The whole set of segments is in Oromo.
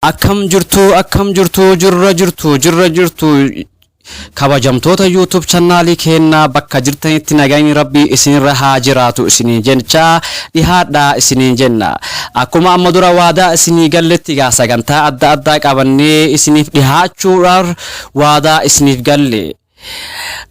Akkam jirtu akkam jirtu jirra jirtu jirra jirtu kabajamtoota YouTube channaalii keennaa bakka jirtanitti nagayni rabbii isinirra haa jiraatu isiniin jechaa dhihaadhaa isiniin jenna. Akkuma amma dura waadaa isinii galletti gaa sagantaa adda addaa qabannee isiniif dhihaachuudhaaf waadaa isiniif galle.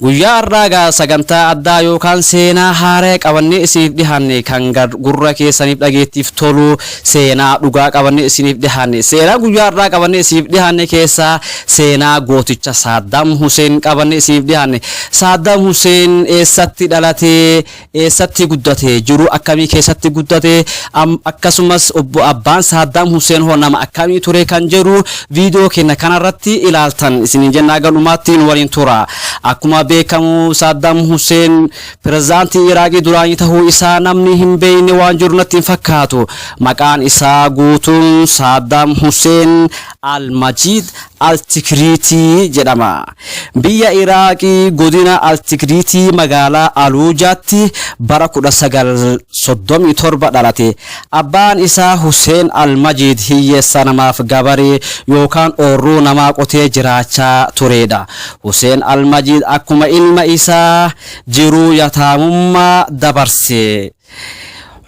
Guyyaa har'aa egaa sagantaa addaa yookaan seenaa haaraya qabannee isiniif dhihaanne kan gurra keessaniif dhageettiif tolu seenaa dhugaa qabannee isiniif dhihaanne seenaa guyyaa har'aa qabannee isiniif dhihaanne keessaa seenaa gooticha Saaddaam Huseen qabannee isiniif dhihaanne Saaddaam Huseen eessatti dhalatee eessatti guddate? Jiruu akkamii keessatti guddate? Am, akkasumas obbo abbaan Saaddaam Huseen hoo nama akkamii ture kan jedhu viidiyoo keenya kanarratti ilaaltan isiniin jennaa galumaatti nu waliin tura. Akkuma beekamu Saaddaam Huseen pirezidaantii Iraaqii duraanii ta'uu isaa namni hin beekne waan jiru natti hin fakkaatu. Maqaan isaa guutuun Saaddaam Huseen Al-Majiid Al-Tikriitii jedhama. Biyya Iraaqii godina Al-Tikriitii magaalaa Aluujaatti bara 1937 dhalate. Abbaan isaa Huseen Al-Majiid hiyyeessa namaaf gabaree yookaan oorruu namaa qotee jiraachaa tureedha. Huseen Al-Majiid akkuma ilma isaa jiruu yataamummaa dabarse.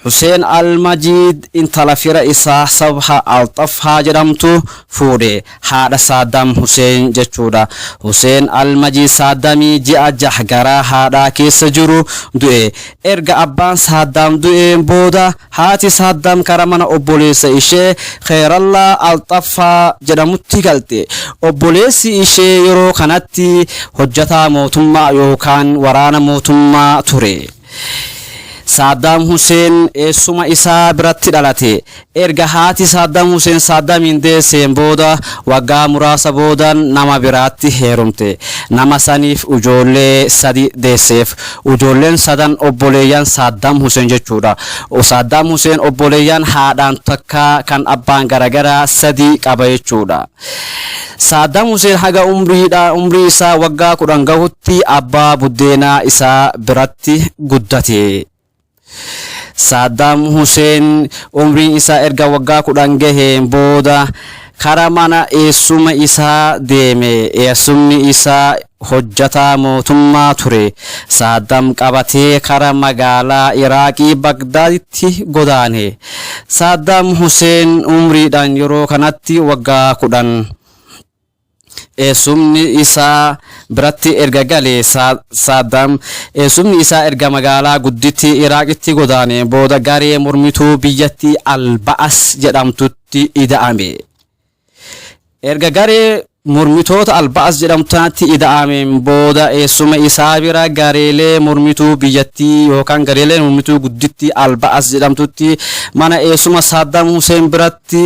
Huseen Al-Majiid intala fira isaa Sabha Al-Xafhaa jedhamtu fuudhe. Haadha Saaddaam Huseen jechuudha. Huseen Al-Majiid Saaddamii ji'a jah garaa haadhaa keessa jiru du'e. Erga abbaan Saaddaam du'een booda haati Saaddaam kara mana obboleessa ishee Kheerallaa Al-Xafhaa jedhamutti galte. Obboleessi ishee yeroo kanatti hojjataa mootummaa yookaan waraana mootummaa ture. Saaddaam Huseen eessuma isaa biratti dhalate. Erga haati Saaddaam Huseen Saaddaamiin deesseen booda waggaa muraasa booda nama biraatti heerumte. Nama saniif ujoollee sadi deesseef. Ujoolleen sadan obboleeyyan Saaddaam Huseen jechuudha. Saaddaam Huseen obboleeyyan haadhaan takka kan abbaan garagaraa sadi qaba jechuudha. Saaddaam Huseen haga umrii isaa waggaa 10 gahutti abbaa buddeenaa isaa biratti guddate. Saaddaam Huseen umriin isaa erga waggaa 10 gaheen booda kara mana eessuma isaa deeme. Eessumni isaa hojjataa mootummaa ture Saaddam qabatee kara magaalaa Iraaqii Bagdaaditti godaane. Saaddam Huseen umriidhaan yeroo kanatti waggaa 10. Eessumni isaa biratti erga galee Saaddam eessumni isaa erga magaalaa guddittii Iraaqitti godaaneen booda garee mormituu biyyattii Al-Ba'as jedhamtutti ida'ame. Erga garee mormitoota Al-Ba'as jedhamtu tanatti ida'ameen booda eessuma isaa bira gareelee mormituu biyyattii yookaan gareelee mormituu guddittii Al-Ba'as jedhamtutti mana eessuma Saaddaam Huseen biratti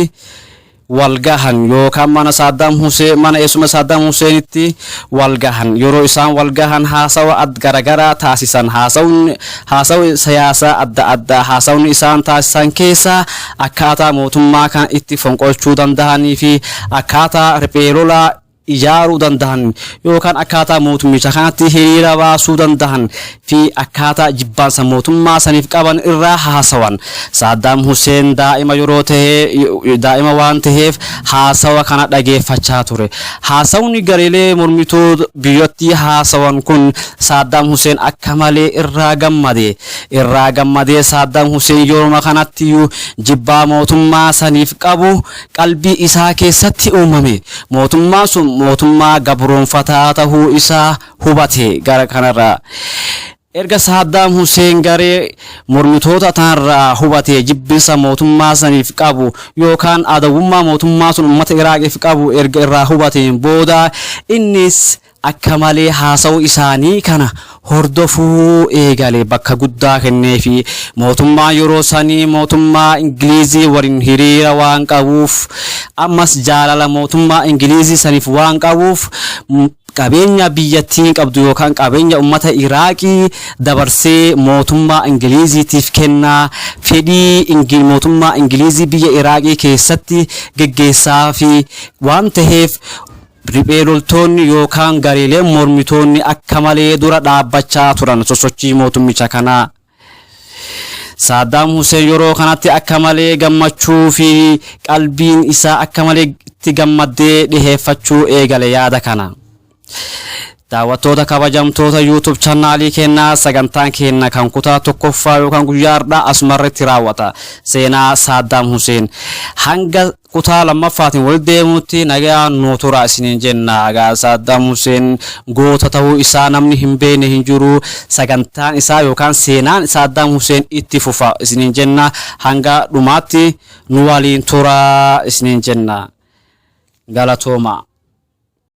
walgahan yookaan mana Saaddaam Huseen mana eessuma Saaddaam Huseenitti walgahan yeroo isaan walgahan haasawa ad garagaraa taasisan haasawni Haasawi siyaasaa adda addaa haasawni isaan taasisan keessaa akkaataa mootummaa kana itti fonqolchuu dandahanii fi akkaataa riphee lolaa ijaaruu dandahan yookaan akkaataa mootummicha kanatti hiriira baasuu dandahan fi akkaataa jibbaansa mootummaa saniif qaban irraa haasawan. Saaddaam Huseen daa'ima yeroo tahe daa'ima waan taheef haasawa kana dhageeffachaa ture. Haasawni gareelee mormituu biyyattii haasawan kun Saaddaam Huseen akka malee irraa gammade. Irraa gammadee Saaddaam Huseen yeruma kanattiyuu jibbaa mootummaa saniif qabu qalbii isaa keessatti uumame. Mootummaan sun mootummaa gabroomfataa tahuu isaa hubate. Gara kanarraa erga Saaddaam Huseen garee mormitoota tanarraa hubatee jibbinsa mootummaa saniif qabu yookaan adawwummaa mootummaa sun ummata Iraaqiif qabu erga irraa hubateen booda innis akka malee haasa'uu isaanii kana hordofuu eegale. Bakka guddaa kenneefii. Mootummaan yeroo sanii mootummaa Ingilizii waliin hiriira waan qabuuf, ammas jaalala mootummaa Ingilizii saniif waan qabuuf, qabeenya biyyattiin qabdu yookaan qabeenya ummata Iraaqii dabarsee mootummaa Ingiliziitiif kenna, fedhii Ingil mootummaa Ingilizii biyya Iraaqii keessatti geggeessaafii waan taheef, Riphee loltoonni yookaan gareeleen mormitoonni akka malee dura dhaabbachaa turan sosochii mootummicha kanaa. Saaddaam Huseen yeroo kanatti akka malee gammachuu fi qalbiin isaa akka malee itti gammaddee dhiheeffachuu eegale yaada kana. Daawwattoota kabajamtoota YouTube channaalii keenyaa sagantaan keenya kan kutaa tokkoffaa yookaan guyyaa har'aa asumarratti raawwata. Seenaa Saaddaam Huseen hanga kutaa lammaffaatiin wal deemuutti nagayaan nuu turaa isiniin jenna egaa Saaddaam Huseen goota ta'uu isaa namni hin beekne hin jiru sagantaan isaa yookaan seenaan Saaddaam Huseen itti fufa isiniin jenna hanga dhumaatti nu waliin turaa isiniin jenna galatoomaa.